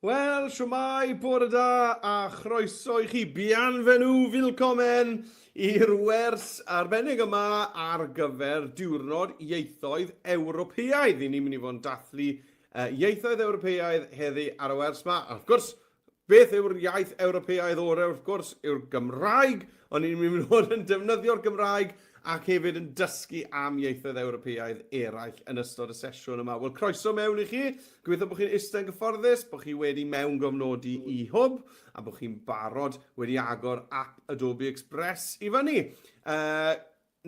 Wel, siwmai, bore da, a chroeso i chi. Bienvenu, willkommen, i'r wers arbennig yma ar gyfer Diwrnod Ieithoedd Ewropeaidd. Ni'n mynd i fod yn dathlu uh, ieithoedd Ewropeaidd heddi ar y wers yma. A wrth gwrs, Beth yw'r iaith Ewropeaidd orau? Wrth gwrs, yw'r Gymraeg, ond ni'n mynd i fod yn defnyddio'r Gymraeg ac hefyd yn dysgu am ieithoedd Ewropeaidd eraill yn ystod y sesiwn yma. Wel, croeso mewn i chi. Gobeithio bod chi'n eistedd yn gyfforddus, bod chi wedi mewn gofnodi i hwb a bod chi'n barod wedi agor ap Adobe Express i fyny. Uh,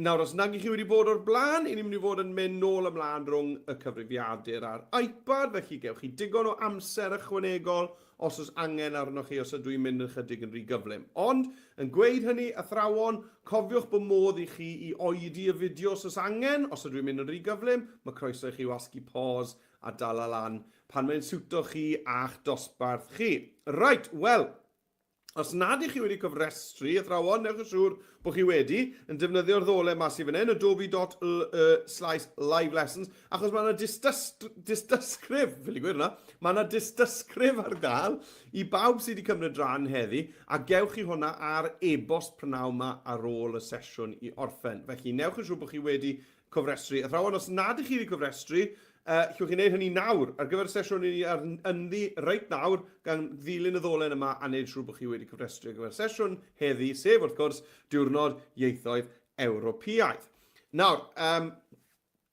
Nawr, os nag 'y chi wedi bod o'r blaen, 'yn ni'n mynd i fod yn mynd nôl a mlaen rhwng y cyfrifiadur a'r iPad, felly gewch chi digon o amser ychwanegol os oes angen arnoch chi os ydw i'n mynd yn ychydig yn rhy gyflym. Ond, yn gweud hynny, athrawon, cofiwch bod modd i chi i oedi y fideo os oes angen, os ydw i'n mynd yn rhy gyflym, mae croeso i chi wasgu pause a dala lan pan mae'n siwto chi a'ch dosbarth chi. Reit, wel, Os nad ych chi wedi cofrestru, athrawon, newch yn siŵr bod chi wedi, yn defnyddio'r ddolen ma sy fan hyn, adobe.ly slash live lessons, achos mae yna dystysgrif, fel i gwir yna, mae yna dystysgrif ar gael i bawb sydd wedi cymryd rhan heddi, a gewch chi hwnna ar e-bost prynawn yma ar ôl y sesiwn i orffen. Felly, newch yn siŵr bod chi wedi cofrestru. Athrawon, os nad ych chi wedi cofrestru, uh, llwch chi wneud hynny nawr ar gyfer y sesiwn i ni ar ynddi reit nawr gan ddilyn y ddolen yma a wneud siŵr bod chi wedi cofrestru ar gyfer y sesiwn heddi, sef wrth gwrs diwrnod ieithoedd Ewropeaidd. Nawr, um,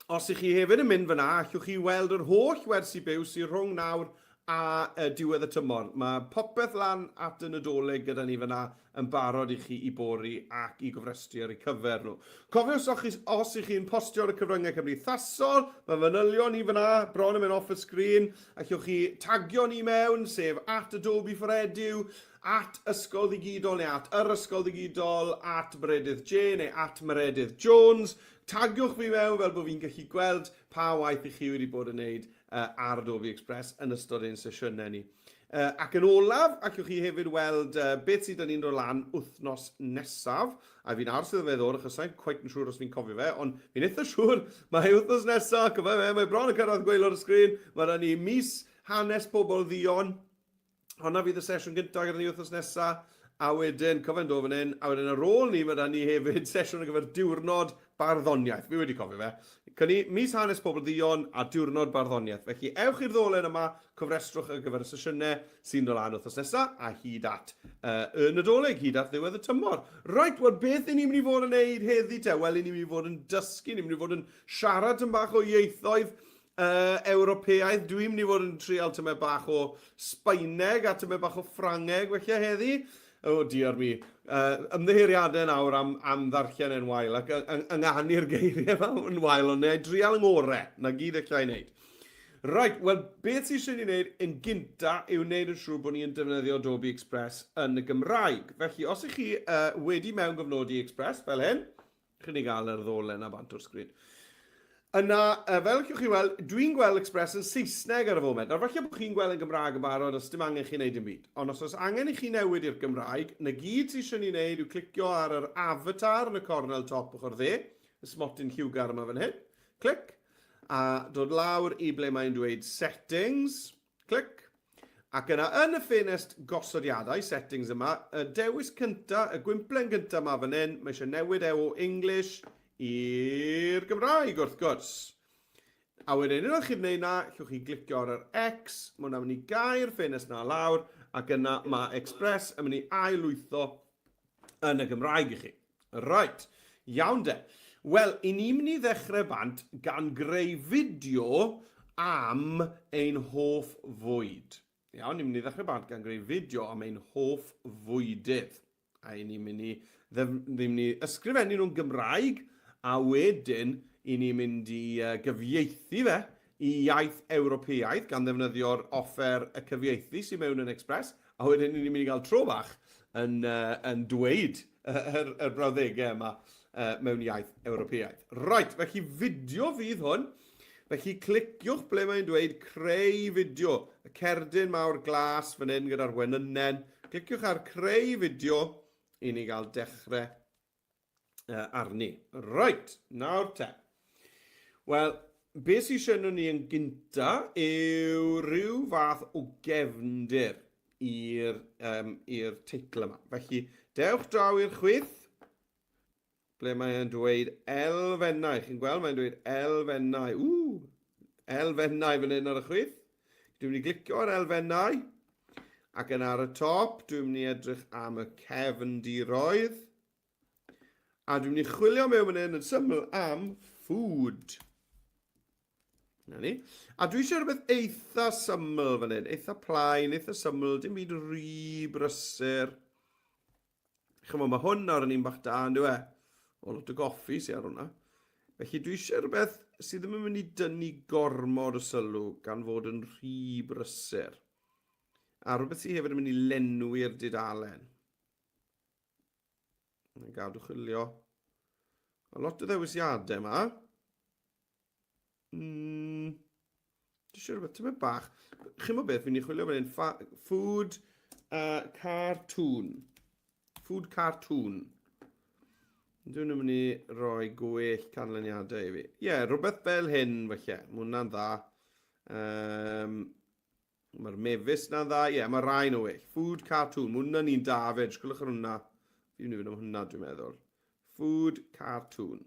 os ych chi hefyd yn mynd fyna, allwch chi weld yr holl wersi byw sy'n rhwng nawr a diwedd y tymor. Mae popeth lan at y Nadolig gyda ni fan'na yn barod i chi i bori ac i gofrestru ar eu cyfer nhw. Cofiwch os chi os y'ch chi'n postio ar y cyfryngau cymdeithasol, mae manylion ni fan'na bron yn mynd off y sgrin, allwch chi tagio ni mewn, sef at Adobe for Edu, at Ysgol Ddigidol neu at Yr Ysgol Ddigidol, at Meredydd Jay neu at Meredydd Jones. Tagiwch fi mewn fel bod fi'n gallu gweld pa waith y'ch chi wedi bod yn neud ar Adobe Express yn ystod ein sesiynau ni. Ac yn olaf, allwch chi hefyd weld beth sydd 'da ni'n rhoi lan wythnos nesaf, a fi'n aros iddo fe ddod achos sai'n cweit yn siŵr os fi'n cofio fe, ond fi'n eitha siŵr mai wythnos nesa, cofia fe, mae bron yn cyrraedd gwaelod y sgrin, ma' 'da ni mis hanes pobl dduon honna fydd y sesiwn gyntaf gyda ni wythnos nesaf, a wedyn, cofio'n dod fan hyn, a wedyn ar ôl ni, mae da ni hefyd sesiwn ar gyfer diwrnod barddoniaeth. Fi wedi cofio fe. Cynni, mis hanes pobl ddion a diwrnod barddoniaeth. Felly, ewch i'r ddolen yma, cofrestrwch ar gyfer y sesiynau sy'n dod lan wythnos nesaf, a hyd at uh, y Nadolig, hyd at ddiwedd y tymor. Right, wel, beth i ni'n mynd i fod yn neud heddi te? Wel, i ni'n mynd i fod yn dysgu, ni'n mynd i fod yn siarad yn bach o ieithoedd, Y Ewropeaidd, dwi'n mynd i fod yn trial tymau bach o Sbaeneg a tymau bach o Ffrangeg felly heddi. O oh, diar mi. Uh, ymddeheiriadau nawr am, am ddarllen e'n wael ac ynganu'r geiriau yma yn wael, ond neu drial yng ngore, na gyd eich llai wneud. Right, wel, beth sy'n sy'n ei wneud yn gynta yw wneud yn siŵr bod ni'n defnyddio Adobe Express yn y Gymraeg. Felly, os ych chi uh, wedi mewn gofnodi Express fel hyn, Chi di gael yr ddolen na bant o'r sgrin. Yna, uh, fel allwch chi weld, dwi'n gweld Express yn Saesneg ar y foment. Nawr, falle bod chi'n gweld yn Gymraeg yn barod a sdim angen chi wneud yn byd. Ond os oes angen i chi newid i'r Gymraeg, na gyd sy'n eisiau ni wneud yw clicio ar yr avatar yn y cornel top ochr dde, y smotyn lliwgar yma fan hyn, clic, a dod lawr i ble mae'n dweud settings, Clic. Ac yna yn y ffenest gosodiadau, settings yma, y dewis cynta, y gwymplen gynta yma fan hyn, mae eisiau newid e o English i'r Gymraeg wrth gwrs. A wedyn unwaith chi'n gwneud na, llwch chi glicio ar yr X, mae hwnna'n mynd i gau'r ffenest na lawr, ac yna mae Express yn mynd i ailwytho yn y Gymraeg i chi. Reit, iawn de. Wel, i ni'n mynd i ddechrau bant gan greu fideo am ein hoff fwyd. Iawn, ni'n mynd i ddechrau bant gan greu fideo am ein hoff fwydydd. A i ni'n mynd i, ddim mynd i ysgrifennu nhw'n Gymraeg, a wedyn i ni'n mynd i gyfieithu fe y iaith Ewropeaidd gan ddefnyddio'r offer y cyfieithu sy mewn yn Express, a wedyn ni'n mynd i gael tro bach yn yn dweud yr yr brawddegau yma mewn iaith Ewropeaidd. Right, felly fideo fydd hwn. Felly cliciwch ble mae'n dweud creu fideo. Y cerdyn mawr glas fan hyn gyda'r wenynnen. Cliciwch ar creu fideo i ni gael dechrau uh, arni. Right, nawr te. Wel, beth sy'n eisiau nhw ni yn gynta yw rhyw fath o gefndir i'r um, teitl yma. Felly, dewch draw i'r chwyth, ble mae'n dweud elfennau. Chi'n gweld, mae'n dweud elfennau. Ww, elfennau fan hyn ar y chwith. Dwi'n mynd i glicio ar elfennau ac yn ar y top dwi'n mynd i edrych am y cefndiroedd a dwi'n mynd i chwilio mewn fan hyn yn syml am food. Na ni. A dwi eisiau rhywbeth eitha syml fan hyn, eitha plaen, eitha syml, dim byd rhy brysur. Chymod, mae hwn nawr yn un bach da, yn dweud, o lot o goffi sy'n ar hwnna. Felly dwi eisiau rhywbeth sydd ddim yn mynd i dynnu gormod o sylw gan fod yn rhy brysur. A rhywbeth sydd hefyd yn mynd i lenwi'r dudalen. Mae'n gadw chwilio. A lot o ddewisiadau yma. Mm, Dwi'n siŵr bod tybed bach. Chi'n mwyn beth, fi'n ei chwilio fan hyn. Food uh, cartoon. Food cartoon. Dwi'n mynd i roi gwell canlyniadau i fi. Ie, yeah, rhywbeth fel hyn, felly. Mae hwnna'n dda. Um, Mae'r mefus na'n dda. Ie, yeah, mae rhain o well. Food cartoon. Mae hwnna'n un da fe. Jyst gwylwch ar hwnna. Fi'n mynd i fynd am hwnna, dwi'n meddwl. Food cartoon.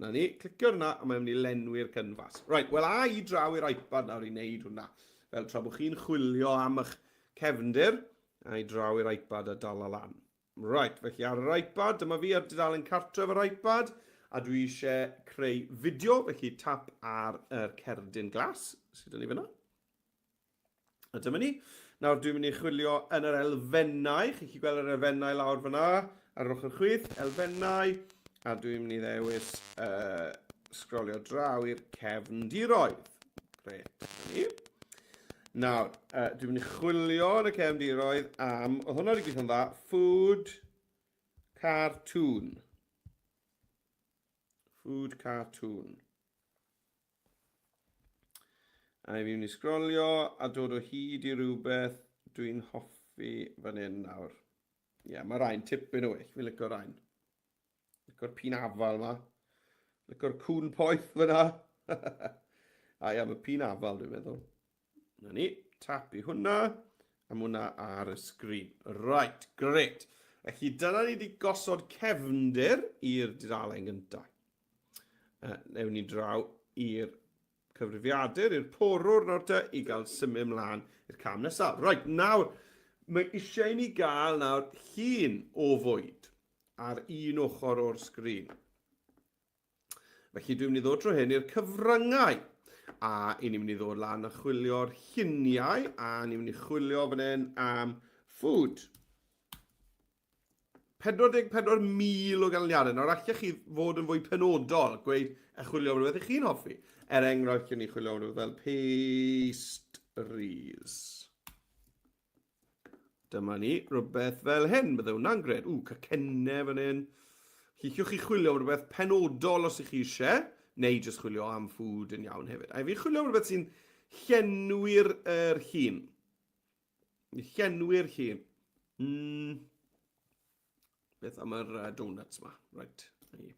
Na ni, clicio hwnna a mae'n mynd i lenwi'r cynfas. Right, wel a i draw i'r iPad nawr i wneud hwnna. Fel tra bod chi'n chwilio am eich cefndir, a i draw i'r iPad a dala lan. Right, felly ar yr iPad, dyma fi ar dudalen cartref yr iPad, a dwi eisiau creu fideo, felly tap ar yr cerdyn glas sydd yn ei fyna. A dyma ni. Nawr dwi'n mynd i chwilio yn yr elfennau. Chi'n chi gweld yr elfennau lawr fyna ar yr ochr chwith, elfennau. A dwi'n mynd i ddewis uh, sgrolio draw i'r cefndiroedd. Gret, ni. Nawr, uh, dwi'n mynd i chwilio yn y cefndiroedd am, oedd hwnna wedi gweithio'n dda, food cartoon. Food cartoon. A i fi mynd i sgrolio a dod o hyd i rhywbeth dwi'n hoffi fan hyn nawr. Ie, yeah, mae rhain tipyn o well, fi'n lyco rhain. Lyco'r pin afal yma. Lyco'r cwn poeth fyna. a ia, mae pin afal dwi'n meddwl. Na ni, tap i hwnna. A hwnna ar y sgrin. Right, great. Felly dyna ni wedi gosod cefndir i'r dudalen gyntaf. Uh, newn ni draw i'r cyfrifiadur, i'r porwr nawr te, i gael symud ymlaen i'r cam nesaf. Right, nawr, mae eisiau i ni gael nawr llun o fwyd ar un ochr o'r sgrin. Felly dwi'n mynd i ddod drwy hyn i'r cyfryngau. A i ni'n mynd i ddod lan a chwilio'r lluniau a ni'n mynd i chwilio fan hyn am food. 44,000 o ganlyniadau. Nawr allech chi fod yn fwy penodol, gweud a chwilio am rhywbeth i chi'n hoffi. Er enghraifft, chi'n ni chwilio am rhywbeth fel pastries. Dyma ni, rhywbeth fel hyn, bydde hwnna'n gred. Ww, cacennau fan hyn. Lliciwch chi chwilio am rhywbeth penodol os ych chi eisiau, neu jyst chwilio am ffwd yn iawn hefyd. A fi'n chwilio am rhywbeth sy'n llenwi'r er hun. Llenwi'r hun. Mm. Beth am yr uh, donuts ma? Right, na ni.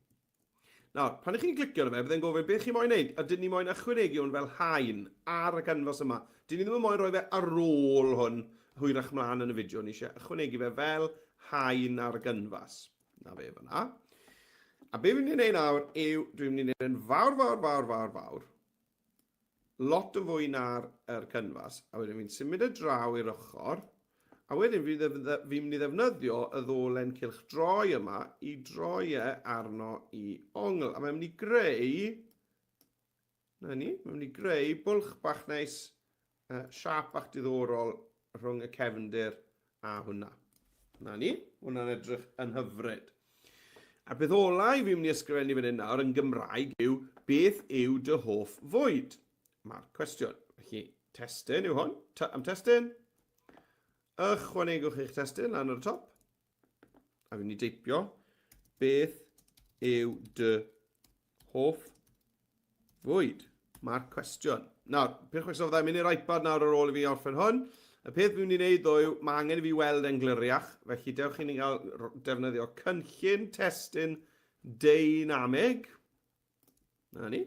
Nawr, pan ych chi'n clicio na fe, byddai'n gofyn beth chi'n moyn wneud, a dyn ni moyn ychwanegu hwn fel hain ar y canfas yma. Dyn ni ddim yn moyn rhoi fe ar ôl hwn hwyrach mlaen yn y fideo, ni eisiau ychwanegu fe fel hain ar y canfas. Na fe fyna. A be fi'n mynd i wneud nawr yw, dwi'n mynd i wneud yn fawr, fawr, fawr, fawr, fawr. lot yn fwy na'r er cynfas, a wedyn fi'n symud y draw i'r ochr, a wedyn fi fi'n mynd i ddefnyddio y ddolen cylch droi yma i droi e arno i ongl, a mae'n mynd i greu, na ni, mae'n mynd i greu bwlch bach neis Uh, siap ac diddorol rhwng y cefndir a hwnna. Na ni, hwnna'n edrych yn hyfryd. A beth ola i fi'n mynd i ysgrifennu fan hyn nawr yn Gymraeg yw beth yw dy hoff fwyd? Mae'r cwestiwn. Felly, testyn yw hwn. T am testyn. Ychwanegwch eich testyn lan ar y top. a fi'n mynd i deipio beth yw dy hoff fwyd? Mae'r cwestiwn. Nawr, peth chwestiwn fydda i'n mynd i'r iPad nawr ar ôl i fi orffen hwn. Y peth fi'n mynd i wneud ddo yw, mae angen i fi weld e'n gliriach, felly dewch i ni gael defnyddio cynllun testyn deinamig. Na ni.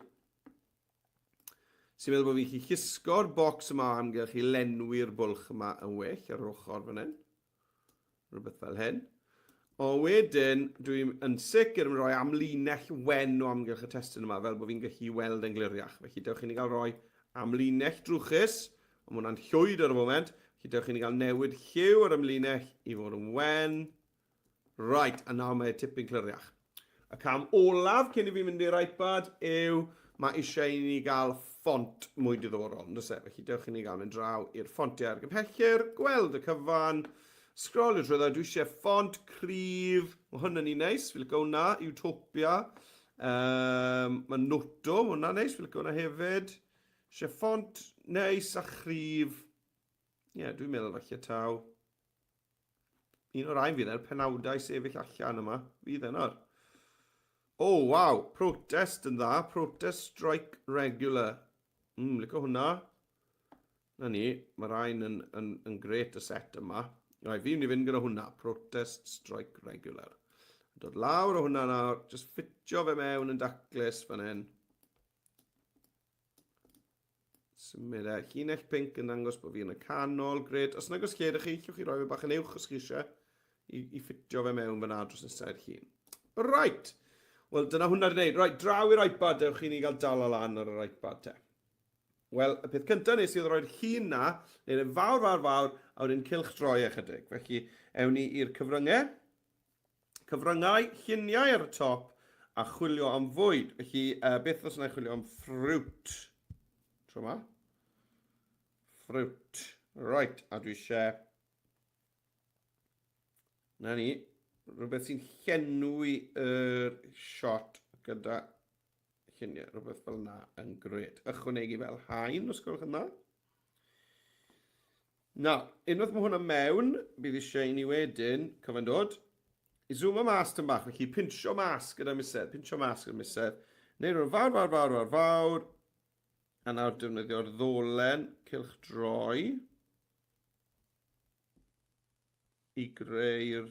Sy'n meddwl bod fi'n chi chisgo'r bocs yma amgylch i lenwi'r bwlch yma yn well ar yr ochr fan hyn. Rhywbeth fel hyn. O wedyn, dwi'n yn sicr yn rhoi amlinell wen o amgylch y testyn yma, fel bod fi'n gallu weld yn gliriach. Felly, dewch i ni gael rhoi amlinell drwchus, ond mae hwnna'n llwyd ar y foment. Felly, dewch i ni gael newid lliw ar amlinell i fod yn wen. Right, a nawr mae tipyn cliriach. Y cam olaf cyn i fi mynd i'r iPad yw mae eisiau i ni gael ffont mwy diddorol, yn dysau. Felly dewch i ni gael mynd draw i'r ffontiau ar gymhellir, gweld y cyfan, sgrolio trwy dda, dwi eisiau ffont cryf, mae hwn yn un neis, fi licio hwnna, Utopia, um, mae Noto, mae hwnna neis, fi licio hwnna hefyd, eisiau ffont neis a chryf, ie, yeah, dwi'n meddwl falle taw, Un o'r rhain fydd e'r penawdau sefyll allan yma. Fydd e nawr. O, oh, waw, protest yn dda. Protest strike regular. Mm, lyco hwnna. Na ni, mae rhain yn, yn, yn gret y set yma. Rai, fi'n mynd i fynd gyda hwnna. Protest strike regular. Dod lawr o hwnna nawr, just ffitio fe mewn yn daclus fan hyn. Symud e. Llinell pink yn dangos bod fi yn y canol. Gred. Os nag os lle ydych chi, llwch chi roi fe bach yn uwch os chi eisiau i, i ffitio fe mewn fyna dros nesau i'r llun. Right. Wel, dyna hwnna wedi gwneud. Right, draw i'r iPad, dewch i ni gael dal o lan ar yr iPad te. Wel, y peth cyntaf nes i oedd roi'r llun na, neu'r fawr, fawr, fawr, a wedyn cilch droi e ychydig. Felly, ewn ni i'r cyfryngau. Cyfryngau lluniau ar y top a chwilio am fwyd. Felly, uh, beth os yna chwilio am ffrwt? Tro yma. Ffrwt. Right, a dwi eisiau... Na ni, rhywbeth sy'n llenwi y er shot gyda lluniau, rhywbeth fel yna yn gred. Ychwanegu fel hain, os gwelwch yn dda. Nawr, unwaith mae hwnna mewn, bydd eisiau i ni wedyn, cofio'n dod, i zoomo mas tyn bach, felly pinsio mas gyda miser, pinsio mas gyda miser, neu rhywun fawr, fawr, fawr, fawr, fawr, a nawr defnyddio'r ddolen cylch droi i greu'r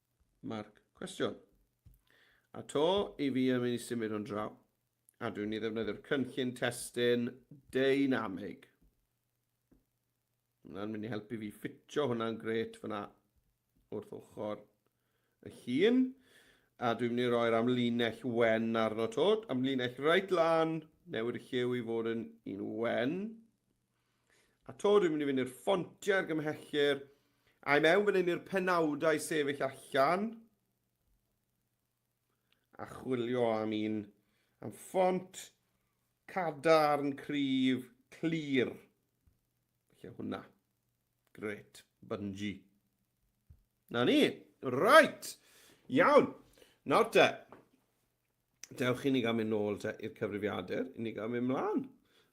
Marc, Cwestiwn. A to i fi yn mynd i symud hwn draw, a dwi'n ni ddefnyddio'r cynllun testun deinamig. Hwna'n mynd i helpu fi ffitio hwnna'n gret fyna wrth ochr y llun. A dwi'n mynd i roi'r amlinell wen arno to, amlinell reit lan, newid y lliw i fod yn un wen. A to, dwi'n mynd i fynd i'r ffontiau ar gymhellur. A i mewn fan hyn i'r penawdau sefyll allan. A chwilio am un am ffont cadarn, cryf, clir. Felly hwnna. Gret, bynji. Na ni. Right. Iawn. Nawr te. dewch i ni gael mynd nôl te i'r cyfrifiadur, i ni gael mynd mlaen.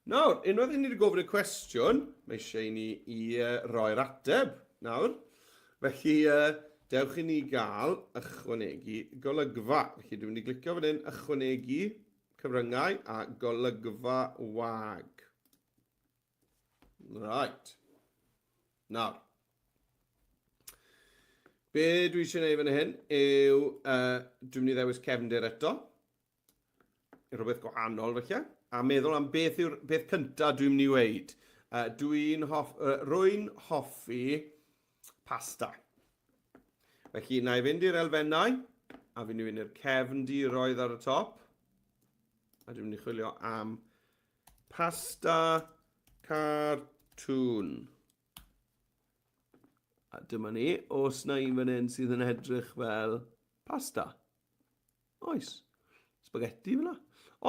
Nawr, unwaith i ni wedi gofyn y cwestiwn, mae eisiau i ni i uh, roi'r ateb. Nawr, felly uh, dewch i ni gael ychwanegu golygfa. Felly dwi'n mynd i glicio fan hyn ychwanegu cyfryngau a golygfa wag. Right. Nawr. Be dwi eisiau gwneud fan hyn yw, uh, dwi'n mynd i ddewis cefndir eto. Rhywbeth gwahanol felly. A meddwl am beth yw'r beth cyntaf dwi'n mynd i weid. Uh, dwi'n hoff, uh, rwy'n hoffi pasta. Felly, na i fynd i'r elfennau, a fi'n mynd i'r cefndiroedd ar y top. A dwi'n mynd i chwilio am Pasta cartŵn. A dyma ni, os na un fan hyn sydd yn edrych fel pasta. Oes, spaghetti fyna.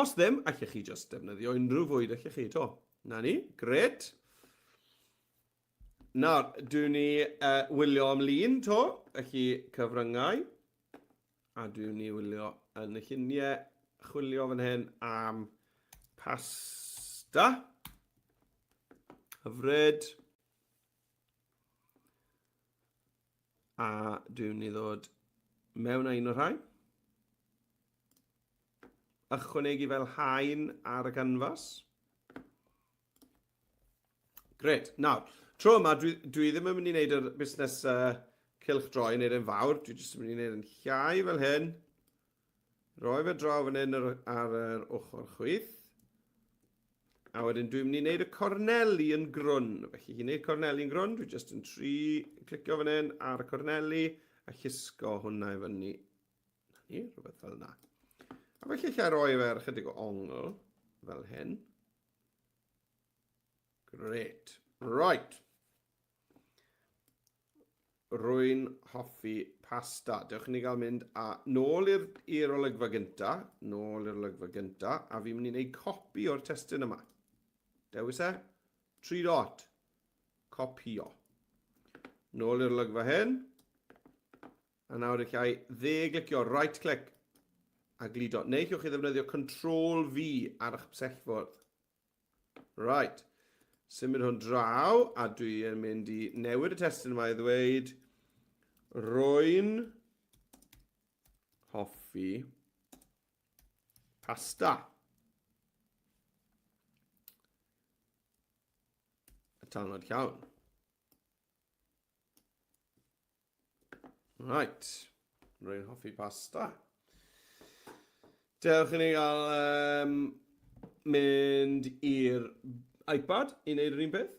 Os ddim, allech chi just defnyddio unrhyw fwyd allech chi to. Na ni, gret. Nawr, dwi ni uh, wylio am lun to, felly cyfryngau. A dwi'n ni wylio yn y lluniau chwilio fan hyn am pasta. Hyfryd. A dwi'n ni ddod mewn â un o'r rhain. Ychwanegu fel hain ar y canfas. Gret. Nawr, tro yma, dwi, dwi ddim yn mynd i wneud yr busnes uh, cilch droi yn eiryn fawr, dwi jyst yn mynd i wneud yn llai fel hyn. Roi fe draw fan hyn ar, ar yr ochr chwith. A wedyn dwi'n mynd i wneud y corneli yn grwn. Felly i wneud corneli yn grwn, dwi jyst yn tri clicio fan hyn ar y corneli a llusgo hwnna i fyny. Na ni, rhywbeth fel yna. A felly lle roi fe ar ychydig o ongl fel hyn. Great. Right. Rwy'n hoffi pasta. Dewch i ni gael mynd a nôl i'r olygfa gynta, nôl i'r olygfa gynta, a fi'n mynd i wneud copi o'r testyn yma. Dewis e, tri dot, copio. Nôl i'r olygfa hyn, A nawr eich ai dde glicio right click a gludo, neu chi'ch chi ddefnyddio control V ar eich psellfwrdd. Right. Symud hwn draw, a dwi yn mynd i newid y testyn yma i ddweud rwy'n hoffi pasta. Y tanod llawn. Right. Rwy'n hoffi pasta. Dewch i ni gael um, mynd i'r iPad i wneud yr un peth.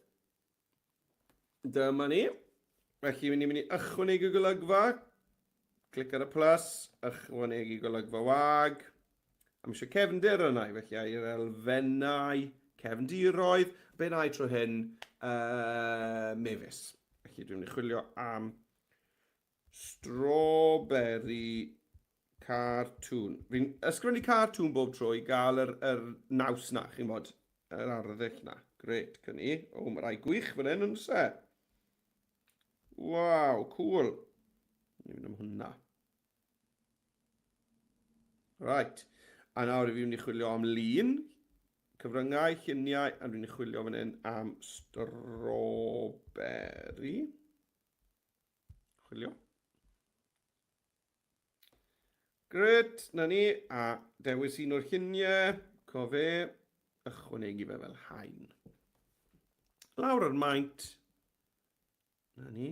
Dyma ni. Felly, ni'n mynd i ychwanegu golygfa. Clic ar y plus, ychwanegu golygfa wag. Am eisiau cefndir yna i felly i'r elfennau cefndiroedd. Be na i tro hyn, uh, mefus. Felly dwi'n mynd i chwilio am strawberry cartoon. Fi'n ysgrifennu cartoon bob tro i gael yr, yr naws na, chi'n bod, yr arddull na. Gret, gyn ni. O, mae rai gwych fan hyn yn se. Waw, cool. Ni'n mynd am hwnna. Right. A nawr i fi mynd i chwilio am lun, cyfryngau, lluniau, a dwi'n chwilio fan hyn am strawberry. Chwilio. Gret, na ni, a dewis un o'r lluniau, cofe, ychwanegu fe fel hain. Lawr ar maint, Na ni.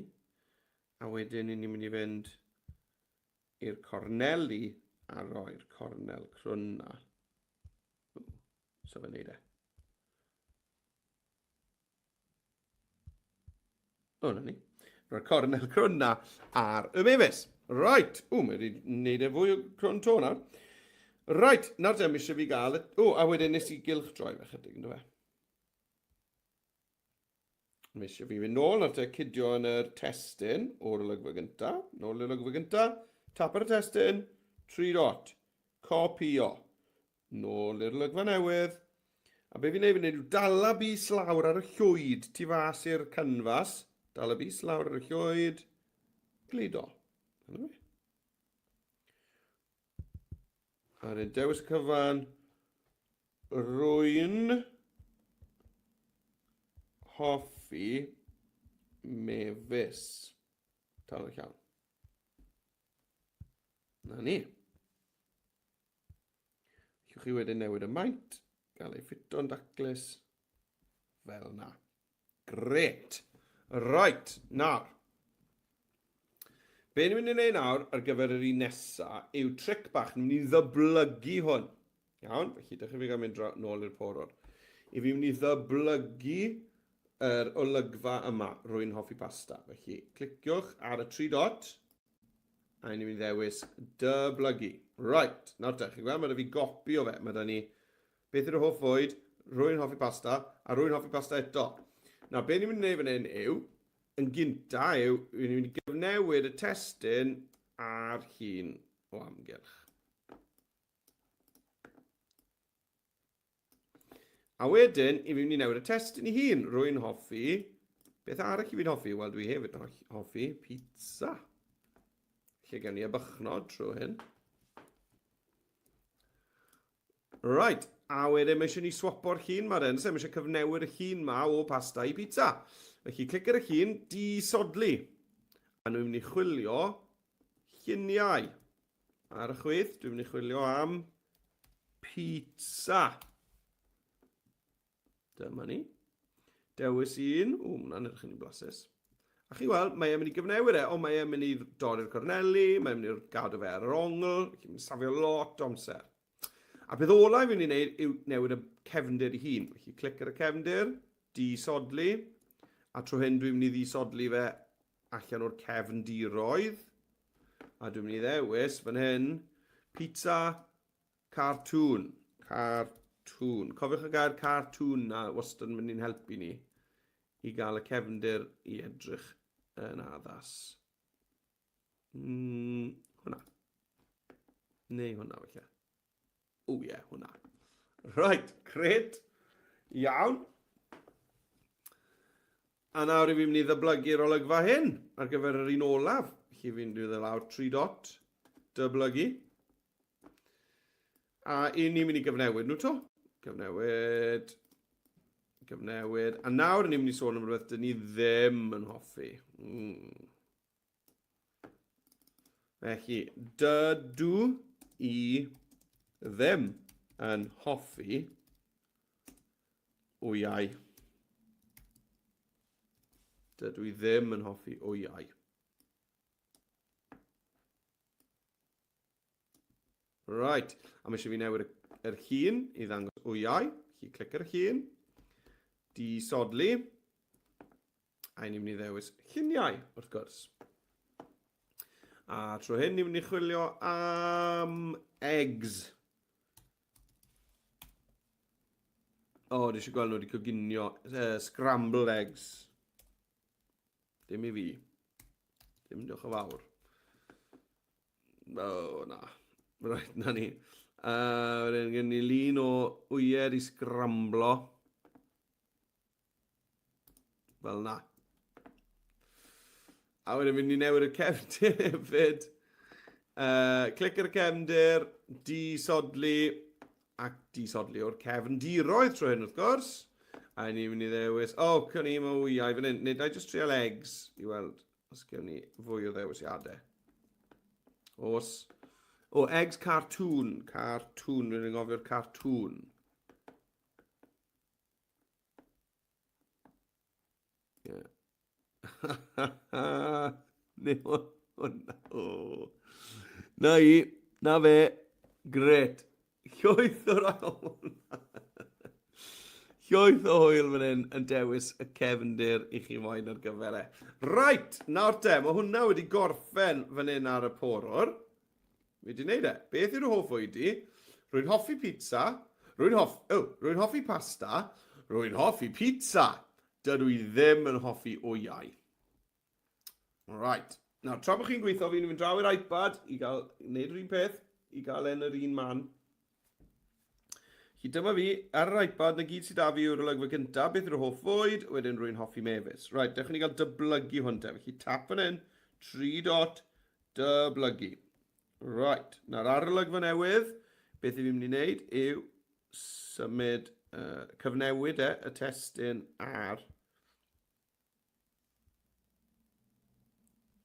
A wedyn ni'n mynd i fynd i'r corneli a roi'r cornel crwn na. So fe wneud e. O, na ni. Roi'r cornel crwn na ar y mefus. Right. O, mae wedi wneud e fwy o crwn to nawr. Right, nawr te, mi eisiau fi gael... O, a wedyn nes i gylch droi fe chydig, ynddo fe? Mae eisiau fi fynd nôl at y cydio yn yr testyn o'r olygfa gynta. Nôl i'r olygfa gynta. Tap ar y testyn. Tri dot. Copio. Nôl i'r olygfa newydd. A be fi'n ei fynd yw dala bus lawr ar y llwyd tu fas i'r canfas. Dala bus lawr ar y llwyd. Gludo. Dyna fi. Ar y dewis cyfan, rwy'n hoffi mefus. Tal y llawn. Na ni. Llwch chi wedyn newid y maint, gael ei ffito'n daclus, fel na. Gret. Reit, nawr. Be ni'n mynd i wneud nawr ar gyfer yr un nesa yw tric bach, ni'n mynd i ddyblygu hwn. Iawn, felly dych chi'n gael mynd nôl i'r porod. I fi mynd i ddyblygu yr olygfa yma, rwy'n hoffi pasta. Felly, cliciwch ar y tri dot, a ni'n mynd i ddewis dyblygu. Right, nawr te, chi'n gweld, mae da fi gopi o fe, mae da ni Beth yw dy hoff fwyd? Rwy'n hoffi pasta, a rwy'n hoffi pasta eto. Nawr, be ni'n mynd i wneud fan hyn yw, yn gynta yw, rwy'n ni'n mynd i gyfnewid y testun ar hun o amgylch. A wedyn, i fi'n mynd i newid y testun i hun. Rwy'n hoffi... Beth arall i fi'n hoffi? Wel, dwi hefyd yn hoffi pizza. Lle gen i y bychnod trwy hyn. Right, a wedyn mae eisiau ni swapo'r llun ma dden, so mae eisiau cyfnewyr y llun ma o pasta i pizza. Felly, clic ar y llun, disodli. A nhw'n mynd i chwilio lluniau. Ar y chwith, dwi'n mynd i chwilio am pizza. Dyma ni. Dewis un. O, mae'n anodd eich ni'n blasus. A chi weld, mae e'n mynd i gyfnewid e, ond mae e'n mynd i dorri'r corneli, mae e'n mynd i gadw fe ar yr ongl, felly mae'n safio lot o amser. A peth olau fi'n mynd i wneud yw newid y cefndir i hun. Felly clic ar y cefndir, disodli, a trwy hyn dwi'n mynd i ddisodli fe allan o'r cefndiroedd. A dwi'n mynd i ddewis fan hyn, pizza, Cartŵn, cartŵn. Cofiwch y gair cartŵn na wastad yn mynd i'n helpu ni i gael y cefndir i edrych yn addas. Mm, hwnna. Neu hwnna, felly. O ie, yeah, hwnna. Right, gret. Iawn. A nawr i fi'n mynd i ddyblygu'r olygfa hyn ar gyfer yr un olaf. Felly fi'n dwi dde lawr 3 dot, dyblygu. A i ni'n mynd i gyfnewid nhw to. Cyfnewid. Cyfnewid. A nawr ni'n mynd i sôn am rhywbeth dyn ni ddim yn hoffi. Mm. Felly, dydw i ddim yn hoffi wyau. Dydw i ddim yn hoffi wyau. Right, a mae eisiau fi newid yr hun i ddangos wyau. Felly clic ar y hun, di sodli, a ni'n mynd i ddewis lluniau, wrth gwrs. A trwy hyn, ni'n mynd i chwilio am eggs. O, oh, dwi eisiau gweld nhw wedi coginio uh, scrambled eggs. Dim i fi. Dim diolch o fawr. O, na. Right, na ni. Uh, wedyn gen ni lun o wyed i sgramblo. Fel na. A wedyn mynd i newid y cefndir hefyd. Uh, clic ar y cefndir, disodli, ac disodli o'r cefn diroedd trwy hyn wrth gwrs. A ni'n mynd i ddewis, o, oh, cwn i, mae wyau fan hyn. Nid i just trial eggs i weld. Os gewn ni fwy o ddewisiadau. Os... O, eggs cartoon. Cartoon. Rwy'n ngofio'r cartoon. Yeah. Neu hwnna. Na i. Na fe. Gret. Llwyth o rawn! Llwyth o hwyl fan hyn yn dewis y cefndir i chi moyn ar gyfer e. Right, nawr te, mae hwnna wedi gorffen fan hyn ar y porwr. Fi wedi gwneud e. Beth yw'r hoff oed i? Rwy'n hoffi pizza. Rwy'n hoff... Oh, rwy'n hoffi pasta. Rwy'n hoffi pizza. Dydw i ddim yn hoffi wyau. Right. Nawr, tra bod chi'n gweithio, fi'n mynd draw i'r iPad i gael gwneud yr un peth, i gael e'n yr un man. Chi dyma fi, ar yr iPad, na gyd sydd da fi yw'r olygfa gyntaf, beth yw'r hoff fwyd, wedyn rwy'n hoffi mefus. Right, dechrau ni gael dyblygu hwn te. Felly tap fan hyn, tri dot, dyblygu. Right, nawr ar y olygfa newydd, beth i fi'n mynd i wneud yw symud, uh, cyfnewid e, y testyn ar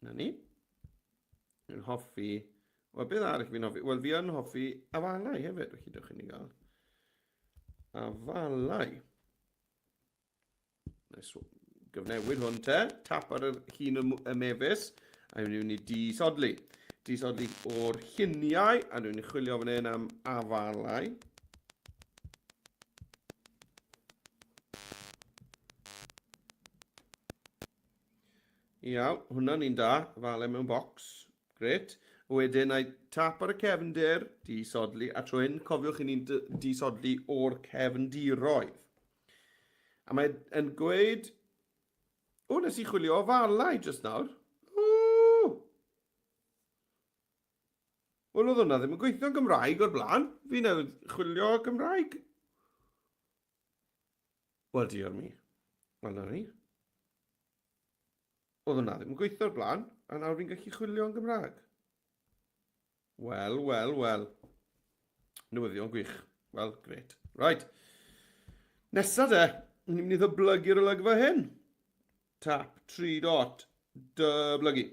Na ni. Yn hoffi... Wel, beth arall fi'n hoffi? Wel, fi yn hoffi afalau hefyd, felly dewch i ni gael afalau. Nes gyfnewid hwn te, tap ar yr hun y mefus, a ni'n mynd i disodli. Disodli o'r lluniau, a ni'n chwilio fan hyn am afalau. Iaw, hwnna'n un da, fale mewn bocs. Gret. Wedyn, na i tap ar y cefndir, disodli, a tro hyn, cofiwch i ni'n disodli o'r cefndiroedd. A mae yn gweud, o, nes i chwilio o falau jyst nawr. Wel, oedd hwnna ddim yn gweithio'n Gymraeg o'r blaen. Fi newydd chwilio Gymraeg. Wel, diolch mi. Wel, na ni. Oedd hwnna ddim yn gweithio'r blaen, a nawr fi'n gallu chwilio yn Gymraeg. Wel, wel, wel. Newyddion gwych. Wel, gret. Right. Nesa de, ni'n mynd i ddyblygu'r olygfa hyn. Tap, tri dot, dyblygu.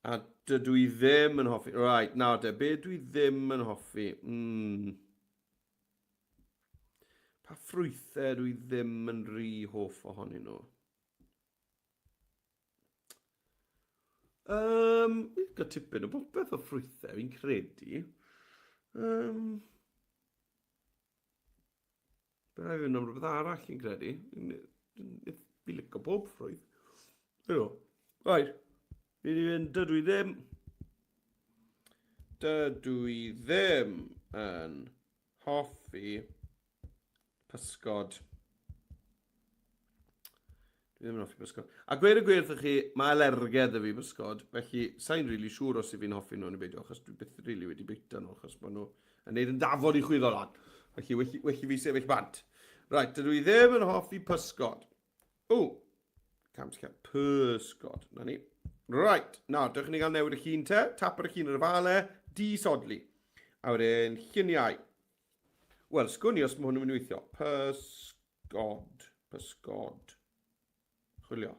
A dydw i ddim yn hoffi... Right, nawr de, be dwi ddim yn hoffi? Mm. Pa ffrwythau dwi ddim yn rhy hoff ohonyn nhw? Um, fi'n cael tipyn o bopeth o ffrwythau, fi'n credu. Um, Bydd rhaid yn rhywbeth arall fi'n credu. Fi licio bob ffrwydd. Ydw. Right. Fi wedi mynd, dydw i ddim. Dydw i ddim yn hoffi pysgod. Dwi ddim yn hoffi bysgod. A gweud y gwir wrthych chi, mae alergedd y fi bysgod, felly sa'n rili really siŵr os i fi'n hoffi nhw yn y beidio, achos dwi byth rili really wedi bwyta nhw, achos maen nhw yn neud yn dafod i chwyddo lan. Felly, welli, welli fi sefyll bant. Right, dydw i ddim yn hoffi pysgod. O, cam sy'n cael pysgod. Na ni. Right, nawr, dewch i ni gael newid y llun te. Tap ar y llun ar y fale, disodli. A wedyn, lluniau. Wel, sgwn i os mae hwn yn mynd i weithio. Pysgod. God, pysgod. Chwilio.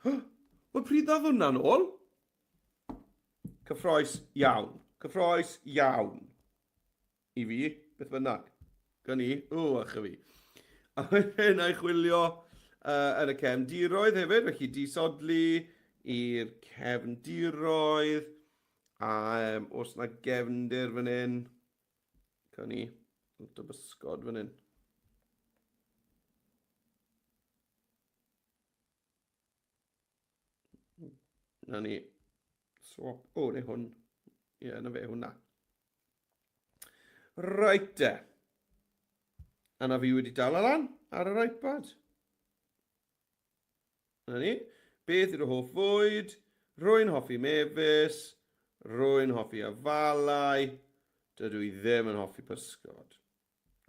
Huh! Wel, pryd ddodd hwnna'n ôl? Cyffroes iawn. Cyffroes iawn. I fi, beth bynnag. Gan i, o, ych fi. A wedyn a'i chwilio uh, yn y cefn diroedd hefyd, felly disodlu i'r cefn diroedd. A um, os na gefndir fan hyn, Cawn ni lot o bysgod fan hyn. Na ni. Swap. O, neu hwn. Ie, yeah, na fe, hwnna. Right de. A na fi wedi dal lan ar yr iPad. Na ni. Beth yw'r hoff fwyd? Rwy'n hoffi mefus. Rwy'n hoffi afalau. Dydw i ddim yn hoffi pysgod.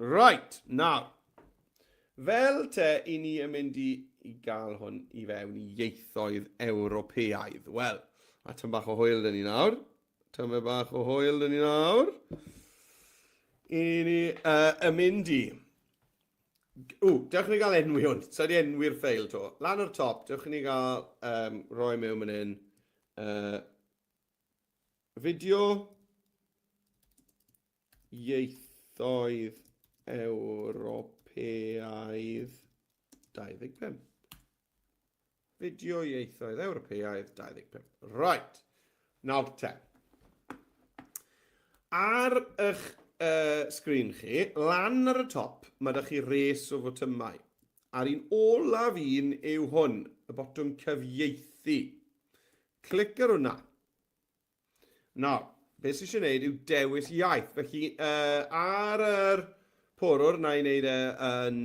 Right, nawr. Fel te i ni yn mynd i, i gael hwn i fewn i ieithoedd Ewropeaidd. Wel, a tyn bach o hwyl dyn ni nawr. Tyn bach o hwyl dyn ni nawr. I ni uh, yn mynd i. Ww, dewch i ni gael enwi hwn. Sa di enwi'r ffeil to. Lan o'r top, dewch i ni gael um, roi mewn mynd hyn. Uh, fideo ieithoedd Ewropeaidd 25. Fideo Ieithoedd Ewropeaidd 25. Right. Nawr te. Ar eich uh, sgrin chi, lan ar y top, mae da chi res o fotymau. A'r un olaf un yw hwn, y botwm cyfieithu. Clic ar hwnna. Nawr, beth sy'n eisiau gwneud yw dewis iaith. Felly, uh, ar yr porwr, na i wneud e yn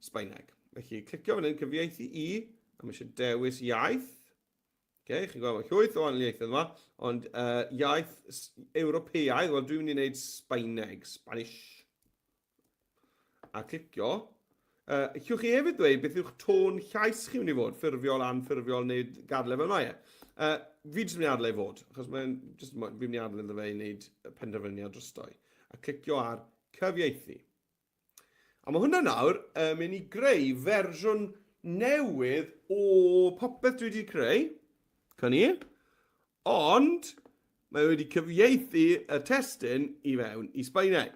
Sbaeneg. Felly, clicio fan hyn, cyfieithu i, a mae eisiau dewis iaith. Okay, chi'n gweld, mae llwyth o anliaethau yma, ond uh, iaith Ewropeaidd, wel dwi'n mynd i wneud Sbaeneg, Spanish. a clicio. Uh, llwch chi hefyd ddweud beth yw'ch tôn llais chi mynd i fod, ffurfiol, anffurfiol neu gadle fel mae e. Uh, fi jyst yn mynd i adle i fod, achos mae'n jyst fi'n mynd i adle iddo fe i wneud penderfyniad drostoi. A clicio ar cyfieithu. A mae hwnna nawr yn mynd i greu fersiwn newydd o popeth dwi wedi creu. Can i? Ond mae wedi cyfieithu y testyn i fewn i Sbaeneg.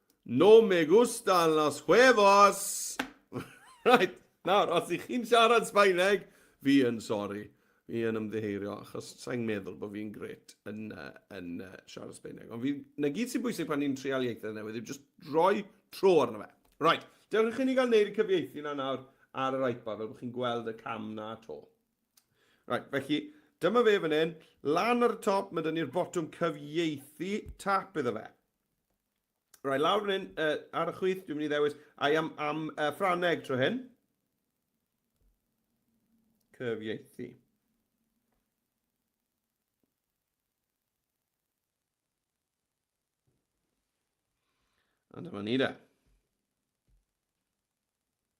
No me gustan los huevos! Reit, nawr, os ych chi'n siarad Sbaeneg, fi yn sori. Fi yn ymddiheirio, achos sa'n meddwl bod fi'n gret yn, uh, yn uh, siarad Sbaeneg. Ond fi, na gyd sy'n bwysig pan ni'n trial ieithoedd newydd yw just roi tro arno fe. Right, dewch chi ni gael neud y cyfieithu na nawr ar yr iPad, fel bod chi'n gweld y cam na to. Right, felly, dyma fe fan hyn, lan ar y top, mae dyn ni'r botwm cyfieithu, tap iddo fe. Rai lawr yn hyn, uh, ar y chwith, dwi'n mynd i ddewis, a i am, am uh, Ffraneg tro hyn. Cyfieithu. A dyma ni da.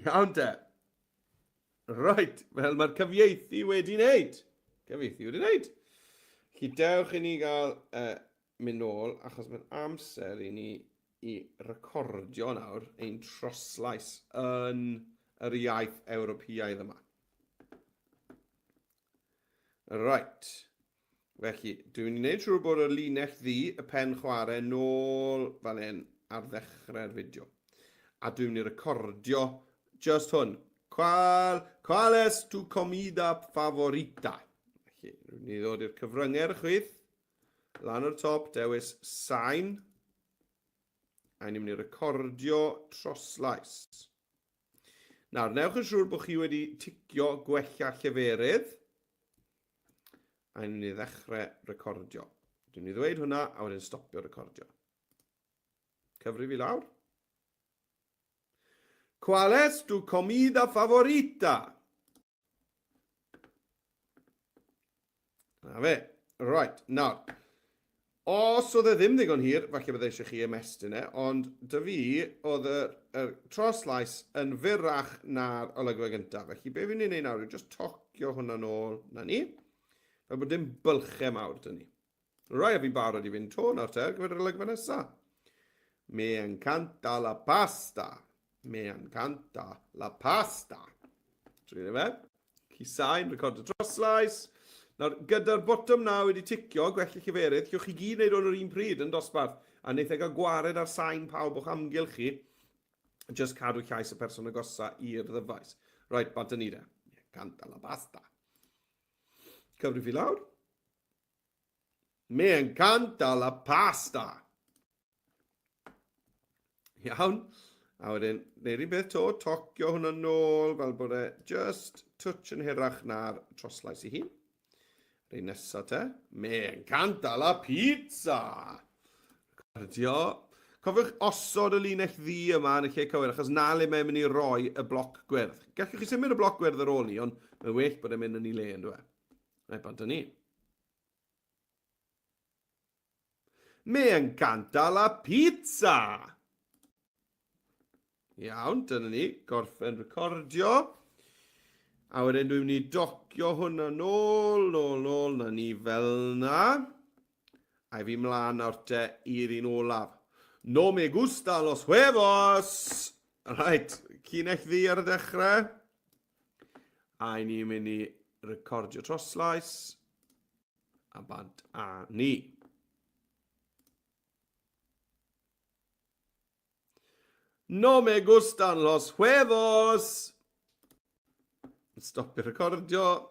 Iawn te. Right, wel mae'r cyfieithu wedi wneud. Cyfieithu wedi wneud. Chi dewch i ni gael uh, mynd nôl, achos mae'n amser i ni i recordio nawr ein troslais yn yr iaith Ewropeaidd yma. Right. Felly, dwi'n mynd i wneud siŵr bod y linell ddu, y pen chwarae, nôl fan hyn ar ddechrau'r fideo. A dwi'n mynd i recordio just hwn. Qual, qual es tu comida favorita? Felly, dwi'n mynd i ddod i'r cyfryngau chwyth, lan o'r top, dewis sain, a ni'n mynd i recordio troslais. Nawr, newch yn siŵr bod chi wedi ticio gwella lleferydd. A ni'n mynd i ddechrau recordio. Dwi'n mynd i ddweud hwnna a wedyn stopio recordio. Cyfri fi lawr. Qual es tu comida favorita? Na fe. Right, nawr. Os oedd e ddim ddigon hir, falle bydde eisiau chi ymestyn e, ond dy fi, oedd y, y troslais yn fyrrach na'r olygfa gyntaf. Felly, be fi'n ei wneud nawr yw just tocio hwnna'n ôl na ni, fel bod dim bylchau mawr dyn ni. Rwyf fi'n barod i fynd to nawr te ar gyfer yr olygfa nesa. Me encanta la pasta. Me encanta la pasta. Dwi'n efe. Cusau'n recordo troslais. Nawr, gyda'r botwm na wedi ticio, gwell i chi ferydd, llwch chi gyd wneud hwn yr un pryd yn dosbarth, a wneitha e gael gwared ar sain pawb o'ch amgylch chi, just cadw llais y person agosa i'r ddyfais. Right, bant y nid e. Canta la basta. Cyfri fi lawr. Me encanta la pasta. Iawn. A wedyn, neu rhywbeth beth to, tocio hwnna nôl fel bod e just touch yn hirach na'r troslais i hun. Rhaid nesaf te. Me encanta la pizza. Recordio. Cofiwch osod y linell ddi yma yn y lle cywir, achos na le mae'n mynd i roi y bloc gwyrdd. Gallwch chi symud y bloc gwyrdd ar ôl ni, ond mae'n well bod e'n mynd yn ei le, yn dweud. Mae bant â ni. Mae yn ganta la pizza! Iawn, dyna ni, gorffen recordio. A wedyn dwi'n mynd i docio hwnna nôl, nôl, nôl, na ni fel na. A fi mlaen nawr te i'r un olaf. No me gusta los huevos! Right, cynell ddi ar y dechrau. A ni'n mynd i recordio troslais. A bant a ni. No me gustan los huevos! Stopio recordio.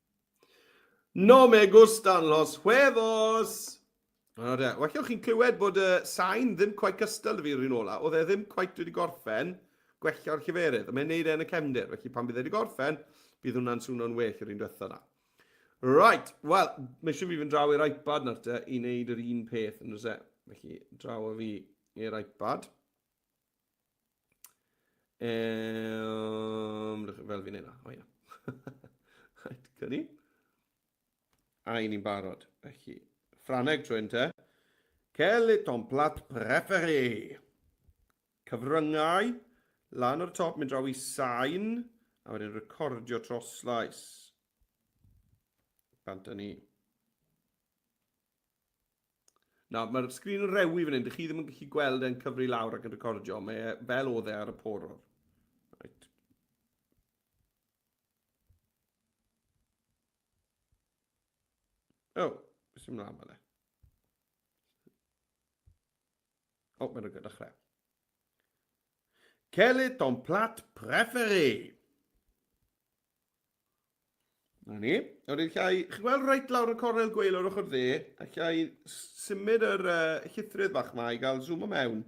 No me gustan los huevos! O de, well o'ch chi'n clywed bod y sain ddim quite cystal da fi yr un ola. Oedd e ddim quite wedi gorffen gwella'r lleferydd. A mae'n neud e yn y cefndir. Felly pan bydd e wedi gorffen, bydd hwnna'n swno'n well yr un diwetha na. Right, wel, mae eisiau fi fynd draw i'r iPad nawr te i wneud yr un peth yn oes e. Felly, draw o fi i'r iPad. Um, fel fi'n neud o, ia. Rhaid gyni. A i ni'n barod, felly. Ffraneg trwy'n te. Quel est ton plat préféré? Cyfryngau, lan o'r top, mynd draw i sain, a wedyn recordio troslais. Bant ni. Na, mae'r sgrin yn rewi fan hyn. Dych chi ddim yn gallu gweld e'n cyfri lawr ac yn recordio. Mae e fel oedd e ar y poror. Right. O, oh, beth sy'n mlaen fan e? O, oh, mae'n rhywbeth dechrau. Quel est ton plat préféré? Na ni. Nawr ni'n llai, chi'n gweld reit lawr y cornel gweil o'r ochr dde, a llai symud yr uh, llithrydd bach yma i gael zoom o mewn.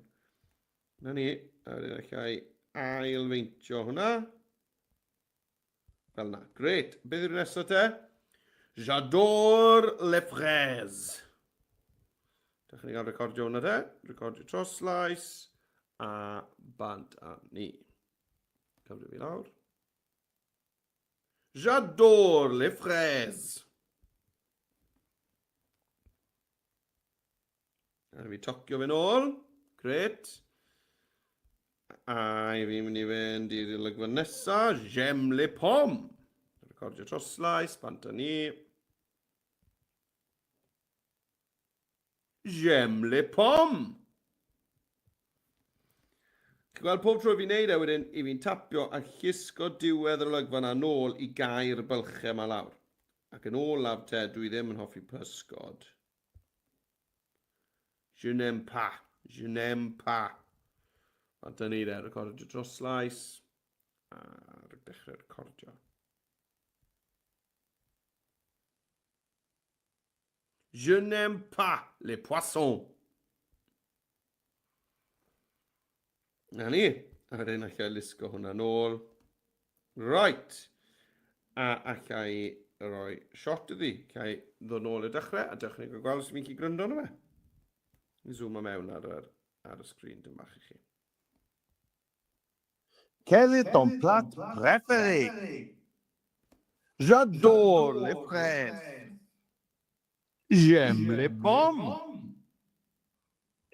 Na ni, a wedyn allai ailfeintio hwnna. Fel na, gret. Beth yw'r nesaf te? J'adore les fraises. Dych chi'n cael recordio hwnna te, recordio troslais a bant a ni. Cymru fi lawr. J'adore les fraises! A fi tocio fe'n ôl. Gret. A i fi'n mynd i fynd i'r olygfa nesaf, Jem Le Pom. Recordio troslais, bant â ni. J'aime les pommes! Chi'n gweld pob tro fi'n neud e wedyn, i fi'n tapio a llusgo diwedd yr olygfa na nôl i gair bylchau ma lawr. Ac yn ôl laf te, dwi ddim yn hoffi pysgod. Je n'aime pas, je n'aime pas. A dyna ni de, recordio dros slais. A rwy'n dechrau recordio. Je n'aime pas les poissons. Na ni. A wedyn allai lusgo hwnna nôl. Right. A allai roi shot iddi. Cai ddod nôl y dechrau a dechrau gael gweld os ydych chi'n gwrando arno fe. Zoom o mewn ar, ar, ar y sgrin dyn bach i chi. Quel est ton plat préféré? J'adore les fraises. J'aime les pommes.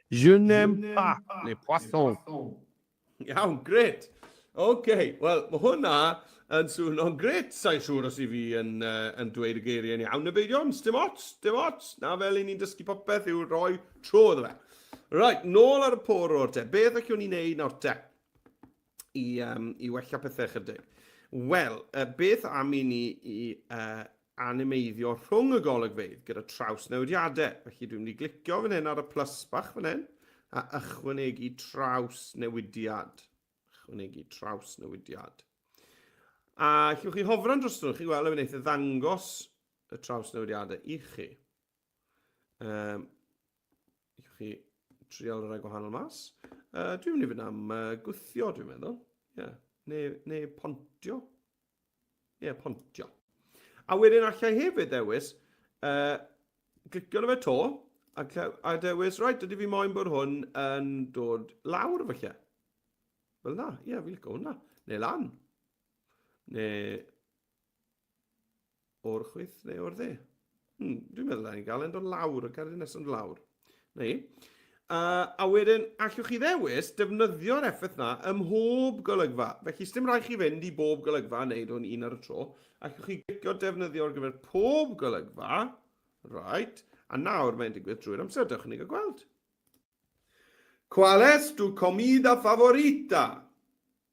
Je n'aime pas les poissons. Iawn, gret. Oce, okay. wel, mae hwnna yn swn o'n gret. Sa'n siŵr os i fi yn, uh, yn dweud y geiriau yn iawn. Na beidio, dim ots, dim ots. Na fel i ni'n dysgu popeth yw rhoi Tro iddo fe. Reit, nôl ar y pôr o'r te. Beth allwn ni wneud nawr te? I, um, i wella pethau chydig. Wel, uh, beth am i ni i uh, animeiddio rhwng y golygfeydd gyda traws newidiadau. Felly dwi'n mynd i glicio fan hyn ar y plus bach fan hyn a ychwanegu traws newidiad. Ychwanegu traws newidiad. A llwch chi hofran dros nhw, chi weld y wneud y ddangos y traws newidiadau i chi. Um, I chi trial y rhai gwahanol mas. Uh, dwi'n mynd i fynd am uh, gwthio, dwi'n meddwl. Yeah. Neu, neu pontio. Ie, yeah, pontio. A wedyn allai hefyd ddewis, uh, clicio na fe to, a, a dewis, right, dydy fi moyn bod hwn yn dod lawr falle. Fel na, ie, yeah, fi'n licio hwnna. Neu lan. Neu O'r chwith neu o'r dde? Hmm, dwi'n meddwl na ni'n gael e'n dod lawr, y cerdyn nesaf yn lawr. Na i. Uh, a wedyn, allwch chi ddewis defnyddio'r effaith na ym mhob golygfa. Felly, sdim rhaid chi fynd i bob golygfa a wneud hwn un ar y tro. Allwch chi gicio defnyddio ar gyfer pob golygfa. Right. A nawr mae'n digwydd drwy'r amser, dewch i ni gael gweld. Qual es tu comida favorita?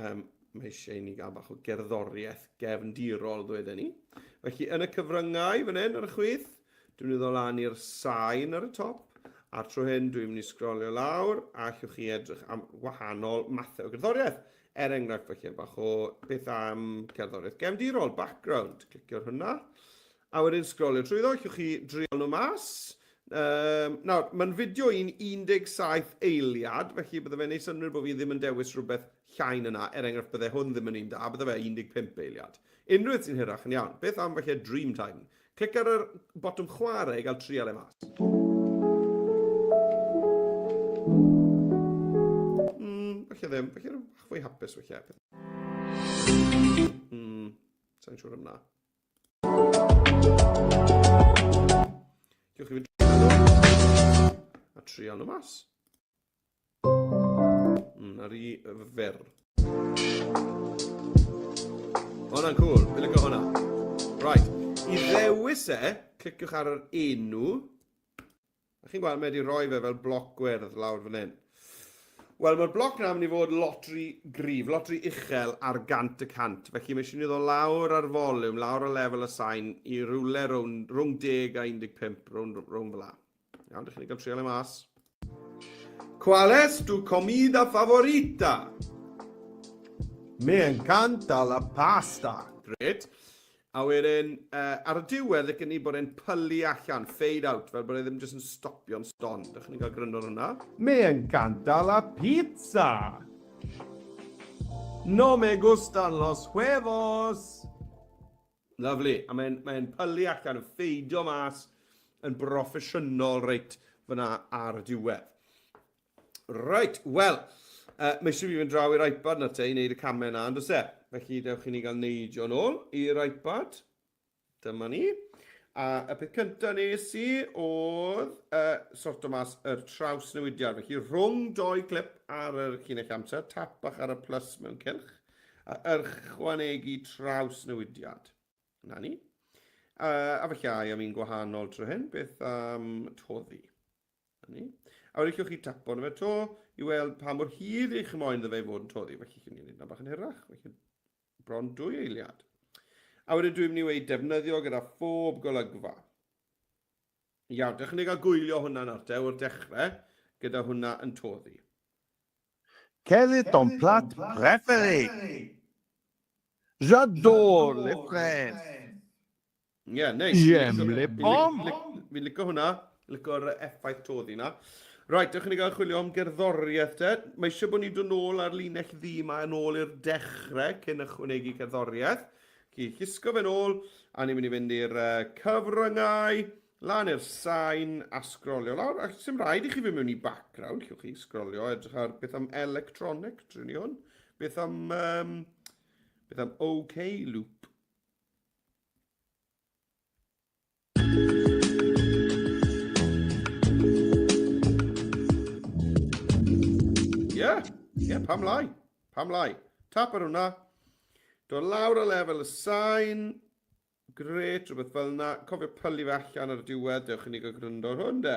um, mae eisiau ni gael bach o gerddoriaeth gefndirol, ddweud ni. Felly, yn y cyfryngau, fan hyn, ar y chwith, dwi'n mynd i lan i'r sain ar y top, a tro hyn, dwi'n mynd i sgrolio lawr, a allwch chi edrych am wahanol mathau o gerddoriaeth. Er enghraifft, felly, bach o beth am cerddoriaeth gefndirol, background, clicio'r hwnna. A wedyn sgrolio trwyddo, allwch chi dreial nhw mas. Um, nawr, mae'n fideo i'n 17 eiliad, felly bydde fe'n neud synnwyr bod fi ddim yn dewis rhywbeth llai na 'na, er enghraifft bydde hwn ddim yn un da, bydde fe 15 eiliad. Unrhyw beth sy'n hirach yn iawn. Beth am falle Dreamtime? Clic ar yr botwm chwarae i gael trial e mas. Mm, falle ddim, falle fwy hapus falle. Mm, sa'n siŵr am na. Diolch i fi. A trial nhw mas. Mm, ar i fer. Hwna'n cool, fi'n lygo hwnna. Right, i ddewis e, cliciwch ar yr enw. A chi'n gweld, mae wedi rhoi fe fel bloc gwyrdd lawr fan hyn. Wel, mae'r bloc yna yn mynd i fod lot rhy gryf, lot rhy uchel ar gant y cant. Felly mae eisiau ni ddod lawr ar foliwm, lawr ar lefel y sain i rywle rhwng, rhwng 10 a 15, rhwng, rhwng fel la. Iawn, dych chi'n cael trial e mas. Qual es tu comida favorita? Me encanta la pasta. Great. A wedyn ar y diwedd licen i bod e'n pylu allan, fade out, fel bod e ddim jyst yn stopio'n stond. Dach chi'n cael gryndo ar hwnna? Me encanta la pizza! No me gustan los huevos! Lyfli, a mae'n mae pylu allan, yn ffeidio mas yn broffesiynol reit fyna ar y diwedd. Right, wel, uh, mae eisiau fi fynd draw i'r iPad na te i wneud y camau yna, ond os e? Felly, dewch i ni gael neidio yn ôl i'r iPad. Dyma ni. A y peth cyntaf nes i oedd uh, sort o mas yr traws newidiad. Felly rhwng doi clip ar yr cynnig amser, tap bach ar y plus mewn cylch, a yrchwanegu traws newidiad. Na ni. Uh, a felly ai am un gwahanol trwy hyn, beth am toddi? Na ni. A wedi chi'ch chi tapo na fe to i weld pa mor hir eich moyn dda fe fod yn toddi. Felly chi'n ei wneud bach yn hirach. Felly bron dwy eiliad. A wedyn dwi'n mynd i wneud defnyddio gyda phob golygfa. Iawn, dych chi'n ei gael gwylio hwnna'n arte o'r dechrau gyda hwnna yn toddi. Quel est ton plat préféré? J'adore les fraises. Ie, yeah, neis. Ie, yeah, mle bom! Fi'n licio hwnna, licio'r effaith toddi yna. Right, dewch i ni gael chwilio am gerddoriaeth te. Mae eisiau bod ni'n dod nôl ar linell ddi yma yn ôl i'r dechrau cyn ychwanegu cerddoriaeth. Chi llusgo fe'n ôl, a ni'n mynd i fynd i'r uh, cyfryngau, lan i'r sain a sgrolio lawr. Ac sy'n rhaid i chi fynd mewn i background, lle chi sgrolio, edrych ar beth am electronic, trin i hwn. Beth am, um, beth am OK loop. Ie, pam lai? Pam lai? Tap ar hwnna. Do lawr o lefel y sain. Gret, rhywbeth fel yna. Cofio pylu fe allan ar y diwedd. Dewch i ni gael gwrando ar hwn, de.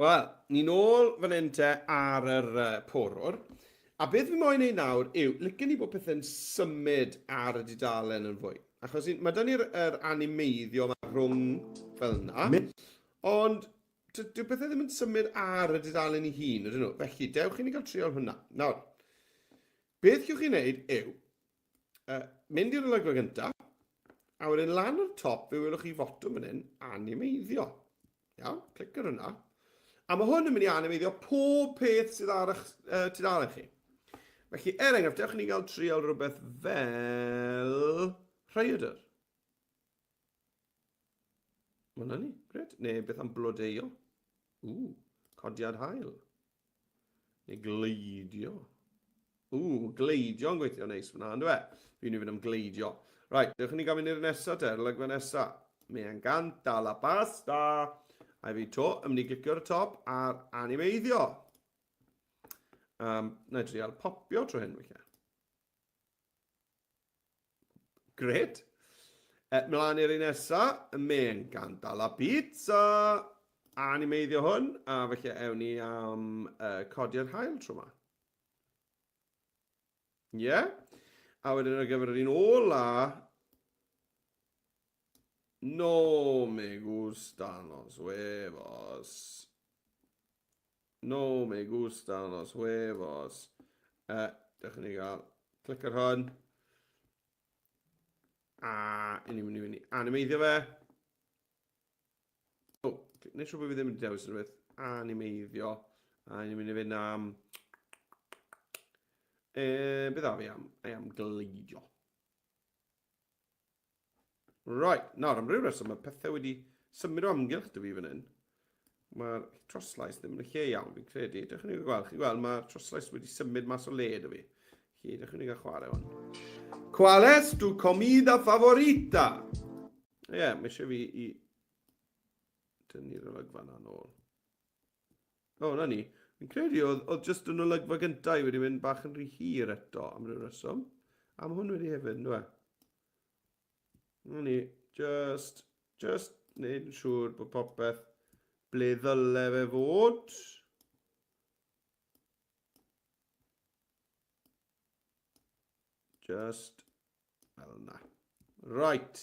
Wel, ni'n ôl fan hyn te ar yr uh, porwr. A beth fi moyn ei nawr yw, lycyn ni bod pethau'n symud ar y dudalen yn fwy. Achos mae da ni'r er animeiddio yma rhwng fel yna. Ond dyw pethau ddim yn symud ar y dudalen i hun, ydyn nhw. Felly, dewch i ni gael triol hwnna. Nawr, beth chi'n chi'n neud yw, uh, mynd i'r olygfa gyntaf, a wedyn lan o'r top fe welwch chi fotwm yn hyn, animeiddio. Iawn, clic ar hwnna. A mae hwn yn mynd i animeiddio pob peth sydd ar eich uh, tudalen chi. Felly, er enghraifft, dewch ni gael trial rhywbeth fel rhaeadr. Wel, na ni. Gret. Neu beth am blodeio? Ww, codiad hael. Neu gleidio. Ww, gleidio yn gweithio neis fyna, ynddo e? Fi'n mynd i fynd am gleidio. Right, dewch i ni gael mynd i'r nesaf te, lygfa nesa. Me encanta la pasta. A fi to, yn mynd i glicio'r top ar animeiddio. Um, na i trial popio trwy hyn, weithiau. Gret. E, mlaen i'r un nesa, y men gan dal a pizza. Animeiddio hwn, a felly ewn ni am uh, codi'r hael tro yma. Ie. Yeah. A wedyn ar gyfer yr un ola, No me gustan los huevos. No me gustan los huevos. Uh, dewch i ni gael clic ar hwn. A i ni'n mynd i fynd i animeiddio fe. O, oh, neu siw bod fi ddim yn dewis yn rhywbeth. Animeiddio. A i ni'n mynd i fynd am... E, beth a fi am? I am gleidio. Right, nawr am ryw reswm mae pethau wedi symud o amgylch dy fi fan hyn. Mae'r troslais ddim yn y lle iawn, fi'n credu. Dych chi'n ei gweld, chi'n gweld, mae'r troslais wedi symud mas o le dy fi. Chi, dych chi'n ei gael chwarae hwn. Qual es tu comida favorita? Ie, yeah, mae eisiau fi i... Dynu'r olygfa na nôl. O, na ni. Fi'n credu oedd, oedd jyst yn olygfa gyntaf wedi mynd bach yn rhy hir eto am ryw reswm. Am hwn wedi hefyd, nhw e? Rwy'n i, just, just wneud yn siŵr bod popeth ble ddyle fe fod. Just fel yna. Right.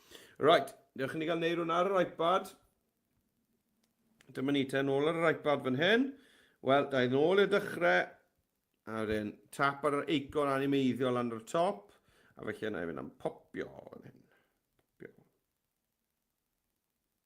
Right, newch ni gael neud hwnna ar yr iPad. Dyma ni ten ôl ar yr iPad fan hyn. Wel, da i'n ôl i'r dechrau. A wedyn, tap ar yr eicon animeiddiol lan o'r top. A felly yna i fynd am popio fan hyn. Popio.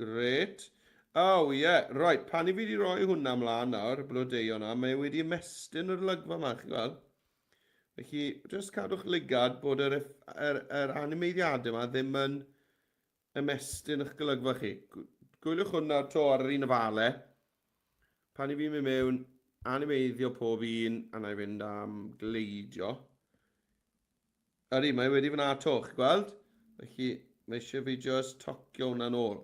Gret. Oh, ie. Yeah. Right, pan i fi wedi rhoi hwnna mlaen nawr, y blodeuo na, mae e wedi ymestyn yr olygfa yma, chi'n gweld? Felly, jyst cadw'ch lygad bod yr, yr, yr animeiddiadau yma ddim yn ymestyn eich golygfa chi. Gwyliwch hwnna to ar yr un ofale. Pan i fi'n mynd mewn, animeiddio pob un, a na i fynd am gleidio. Ydy, mae wedi fyna to, chi gweld? Felly, mae eisiau fi just tocio hwnna'n ôl.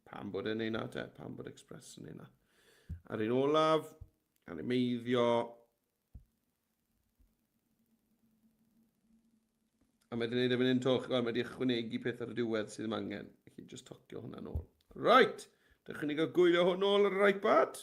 Pam bod e'n ei na te? Pam bod Express yn ei na? Ar un olaf, ar un meiddio. A mae wedi'n ei ddefyn yn to, chi gweld, mae wedi ychwanegu peth ar y diwedd sydd ddim angen. Felly, just tocio hwnna'n ôl. Right, dechrau ni gael gwylio hwn ôl ar yr iPad.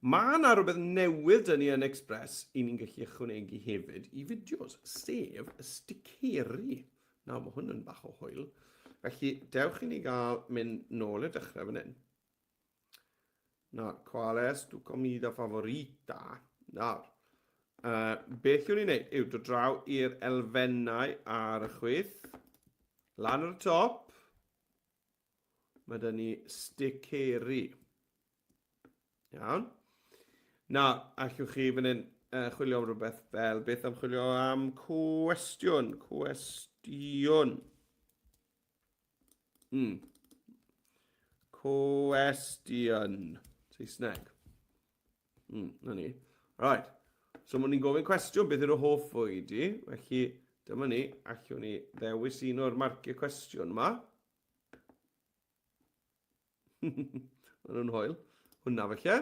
Mae yna rhywbeth newydd dyn ni yn Express i ni'n gallu ychwanegu hefyd i fideos, sef y sticeri. Nawr, mae hwn yn bach o hwyl. Felly, dewch i ni gael mynd nôl y dechrau fan hyn. Nawr, qual es tu comida favorita? Nawr, uh, beth yw'n ei wneud yw dod draw i'r elfennau ar y chwyth, lan ar y top, Mae da ni sticeri. Iawn. Na, allwch chi fan hyn uh, chwilio am rhywbeth fel beth am chwilio am cwestiwn, cwestiwn. Mm. Cwestiwn. Saesneg. Mm, na ni. Right. So, mwyn ni'n gofyn cwestiwn, beth yw'r hoff fwyd i? Felly, dyma ni, allwn ni ddewis un o'r marciau cwestiwn yma. Mae nhw'n hoel. Hwna felly.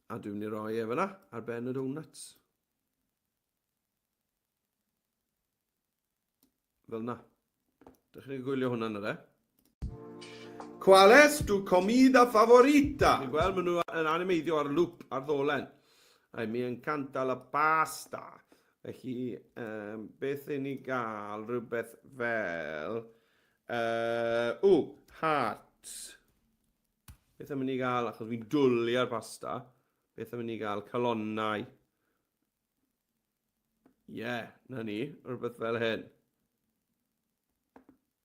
A dwi'n mynd i roi e fyna ar ben y donuts. Fel na. Dych chi'n gwylio hwnna yn yr e? Qual es tu comida favorita? Dwi'n gweld maen nhw yn animeiddio ar lŵp ar ddolen. Ai, mi encanta la pasta. Felly, um, beth i ni gael? Rhywbeth fel... Uh, o, heart. Beth am i ni gael? Achos fi'n dwlu ar pasta. Beth am i ni gael? Calonnau. Ie, yeah, na ni. Rhywbeth fel hyn.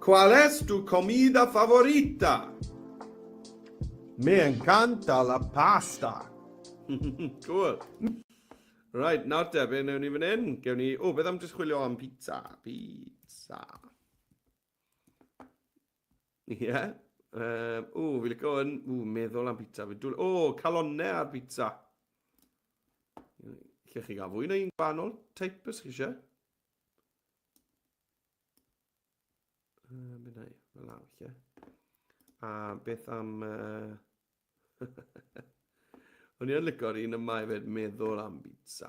Cual es tu comida favorita? Me encanta la pasta. cool. Right, nawr te, fe wnewn ni fan hyn. Gewn ni... O, beth am jyst chwilio am pizza? Pizza. Ie. Yeah. Um, o, fi licio yn... O, meddwl am pizza. O, oh, calonne ar pizza. Lle chi gael fwy neu un gwahanol? Teip ys chi eisiau? Uh, mynd ei, fel law, lle. A beth am... Uh... O'n i'n licor un yma i fed meddwl am bizza.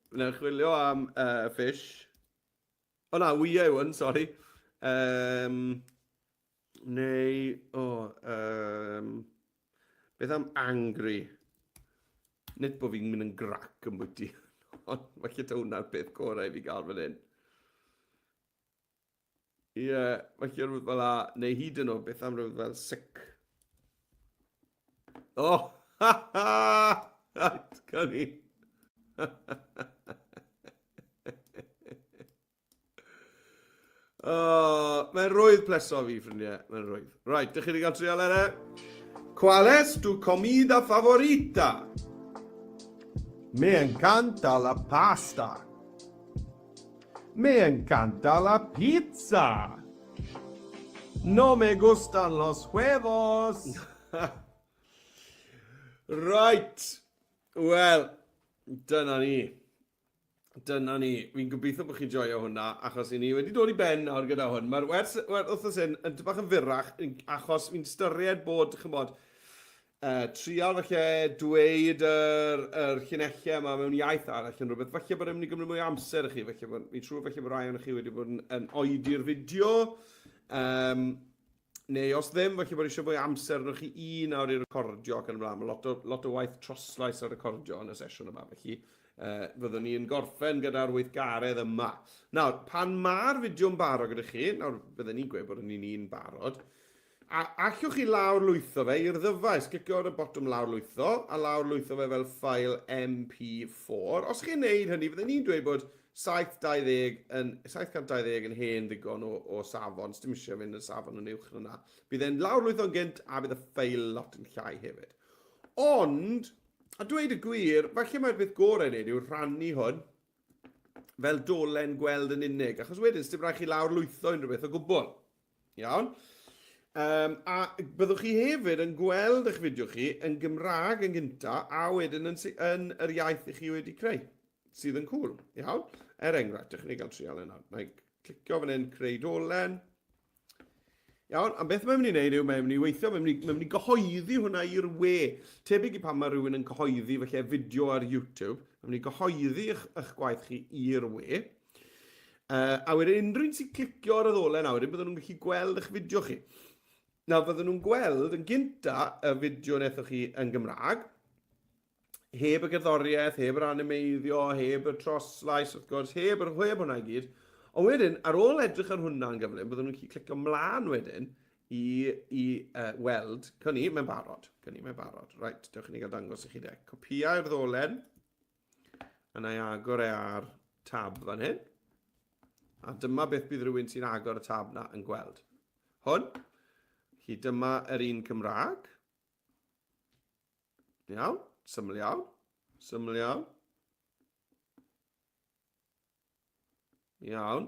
Mae'n chwilio am uh, fish. O na, wyau yw hwn, sori. Um, neu, o, oh, um, beth am angry? Nid bod fi'n mynd yn grac yn bwyty. Ond mae lle ta hwnna'r peth gorau i fi gael fan hyn. Ie, yeah, mae chi rhywbeth fel la, neu hyd yn oed beth am rhywbeth fel sic. O, oh, ha ha! Right, gan i. oh, mae'n rwydd pleso fi, ffrindiau. Mae'n rwydd. Right, dych chi wedi cael trial ere? Qual es tu comida favorita? Me encanta la pasta. Me encanta la pizza! No me gustan los huevos! Right! Wel, dyna ni. Dyna ni. Fi'n gobeithio bod chi'n joio hwnna, achos i ni wedi dod i ben nawr gyda hwn. Mae'r wers wrthnos hyn yn bach yn fyrrach, achos fi'n styried bod, chymod, Yy, trial falle dweud yr, yr llinellau yma mewn iaith arall yn rhywbeth. Falle bod e'n mynd i gymryd mwy o amser i chi, falle bod, fi'n siŵr falle bod rai o'n chi wedi bod yn, yn oedi'r fideo. Um, neu os ddim, falle bod eisiau fwy o amser arnoch chi un awr i recordio ac yn ymlaen. Mae lot o, lot o waith troslais a recordio yn y sesiwn yma, felly uh, fyddwn ni'n gorffen gyda'r weithgaredd yma. Nawr, pan mae'r fideo'n barod gyda chi, nawr byddwn ni'n gweud bod ni'n un barod, A allwch chi lawrlwytho fe i'r ddyfais? Clicio ar y botwm lawrlwytho a lawrlwytho fe fel ffael MP4. Os chi'n neud hynny, fydden ni'n dweud bod 720 yn, 720 yn hen ddigon o, o safon, sdim eisiau mynd yn safon yn uwch na na. Bydd e'n lawrlwytho'n gynt a bydd y ffael lot yn llai hefyd. Ond, a dweud y gwir, falle mae'r beth gorau i wneud yw rhannu hwn fel dolen gweld yn unig, achos wedyn, sdim rhaid chi lawrlwytho unrhyw beth o gwbl. Iawn? Um, a byddwch chi hefyd yn gweld eich fideo chi yn Gymraeg yn gynta a wedyn yn, yn yr iaith i chi wedi creu, sydd yn cool, iawn? Er enghraifft, ydych chi'n ei gael trial yna. Mae clicio fan hyn, creu dolen. Iawn, am beth mae'n mynd i wneud yw mae'n mynd i weithio, mae'n mynd, mynd i gyhoeddi hwnna i'r we. Tebyg i pan mae rhywun yn cyhoeddi felly fideo ar YouTube, mae'n mynd i gyhoeddi eich, eich gwaith chi i'r we. Uh, a wedyn unrhyw un sy'n clicio ar y ddolen nawr, wedyn byddwn nhw'n gallu gweld eich fideo chi. Na, byddwn nhw'n gweld yn gynta y fideo nethoch chi yn Gymraeg, heb y gerddoriaeth, heb yr animeiddio, heb y troslais, wrth gwrs, heb yr hweb hwnna i gyd. Ond wedyn, ar ôl edrych ar hwnna'n gyflym, byddwn nhw'n gallu clicio mlaen wedyn i, i uh, weld, cyn i, mae'n barod, cyn i, mae'n barod. Right, dewch i ni gael dangos i chi de. Copiau'r ddolen. A na i agor e ar tab fan hyn. A dyma beth bydd rhywun sy'n agor y tab na yn gweld. Hwn. Chi dyma yr un Cymraeg. Iawn, syml iawn, syml iawn. Iawn.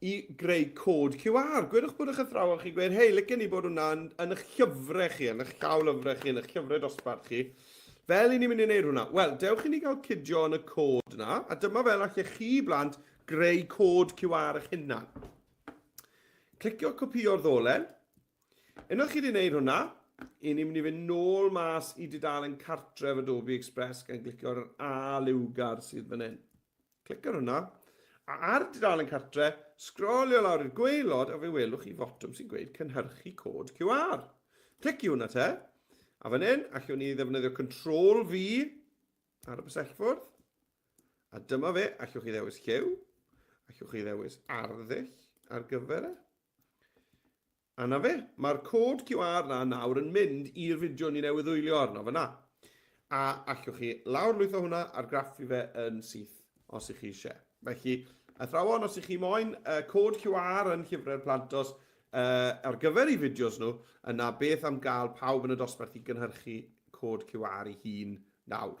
i greu cod QR. Gwedwch bod eich athrawon chi'n gweud, hei, licen ni bod hwnna yn, yn eich llyfrau chi, yn eich llaw lyfrau chi, yn eich llyfrau dosbarth chi. Fel i ni'n mynd i wneud hwnna? Wel, dewch i ni gael cydio yn y cod yna, a dyma fel allech chi blant greu cod QR eich hunan. Clicio copio'r ddolen. Unwaith chi wedi gwneud hwnna, i ni'n mynd i fynd nôl mas i dudalen cartref Adobe Express gan glicio'r A liwgar sydd fan hyn. Clic ar hwnna. A ar dudalen cartre, sgrolio lawr i'r gweilod a fe welwch chi fotwm sy'n gweud cynhyrchu cod QR. Clic i hwnna te. A fan hyn, allwn ni ddefnyddio Control V ar y bysellfwrdd. A dyma fe, allwch chi ddewis lliw, allwch chi ddewis arddull ar gyfer e. A 'na fe, mae'r cod QR 'na nawr yn mynd i'r fideo ni newydd wylio arno fan'na. A allwch chi lawrlwytho hwnna, argraffu fe yn syth os y'ch chi isie. Felly, athrawon, os y'ch chi moyn y cod QR yn Llyfrau'r Plant os uh, ar gyfer i fideos nhw, yna beth am gael pawb yn y dosbarth i gynhyrchu cod QR i hun nawr.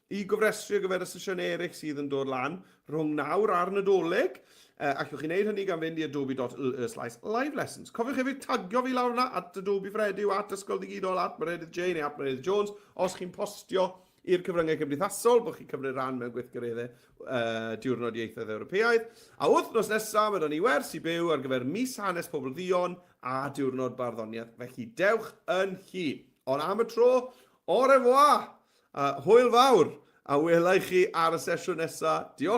I gofrestru ar gyfer y sesiynau eraill sydd yn dod lan rhwng nawr a'r Nadolig, allwch chi wneud hynny gan fynd i adobe.ly slaes live lessons. Cofiwch hefyd tagio fi lawr yna, at Adobe Fredew, at Ysgol Ddigidol, at Meredydd Jay neu at Meredydd Jones, os chi'n postio i'r cyfryngau cymdeithasol bod chi'n cymryd rhan mewn gweithgareddau uh, Diwrnod Ieithoedd Ewropeaidd. A wythnos nesaf, mae dan ni wers i byw ar gyfer mis hanes pobl ddion a diwrnod barddoniaeth, felly dewch yn chi. Ond am y tro, au revoir! A hwyl fawr! A welai chi ar y sesiwn nesa. Diolch!